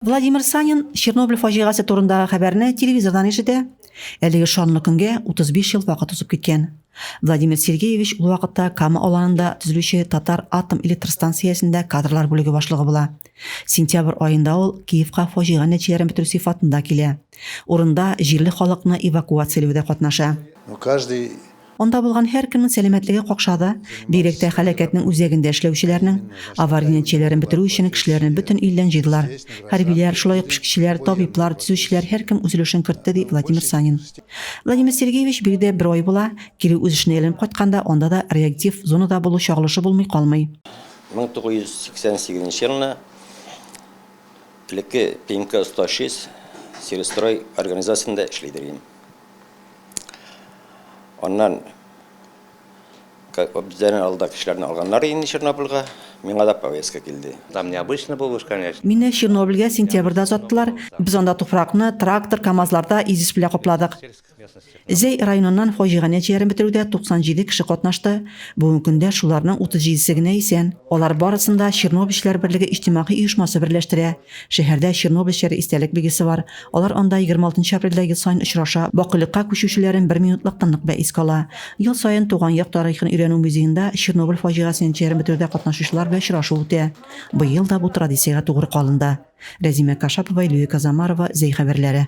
Владимир Санин Чернобыль фаҗигасе турындагы хәбәрне телевизордан ишетә. Әлеге шанлы көнгә 35 ел вакыт узып киткән. Владимир Сергеевич ул вакытта Кама аланында төзелүче Татар атом электр станциясендә кадрлар бүлеге башлыгы була. Сентябрь аенда ул Киевка фаҗига нәтиҗәләрен бетерү сыйфатында килә. Урында җирле халыкны эвакуацияләүдә катнаша. Ну, каждый Анда булган һәркемнең сәламәтлеге какшады, бигрәк тә һәлакәтнең үзәгендә эшләүчеләрнең. Авария нәтиҗәләрен бетерү өчен кешеләрне бөтен илдән җыйдылар. Хәрбиләр, шулай ук пешекчеләр, табиблар, төзүчеләр, һәркем үз өлешен кертте, ди Владимир Санин. Владимир Сергеевич, биредә бер ай була, кире үз эшенә әйләнеп кайтканда, анда да реактив зонада булу чагылышы булмый калмый. 1988 елны элекке ПМК-106 Сельстрой организациясендә эшли идем. Аннан Обзерен алда кешеләрне алганнар инде Чернобыльга. Миңа да повестка килде. Там необычно булу уж, конечно. Мине Чернобыльгә сентябрьдә озаттылар. Без анда туфракны трактор, КАМАЗларда изис белә капладык. Зәй районыннан фаҗига нәтиҗәләрен бетерүдә 97 кеше катнашты. Бүгенге көндә шуларның 37 се генә исән. Алар барысын да Чернобыльчеләр берлеге иҗтимагый оешмасы берләштерә. Шәһәрдә чернобыльчеләр истәлек билгесе бар. Алар анда 26 нчы апрельдә ел саен очраша, бакыйлыкка күчүчеләрен бер минутлыктан нык бәйс кала. Ел саен Туган як тарихын өйрәнү музеенда Чернобыль фаҗигасе нәтиҗәләрен бетерүдә катнашучылар белән очрашу үтә. Быел да бу традициягә тугры калынды. Рәзимә Кашапова, Илюя Казамарова, Зәй хәбәрләре.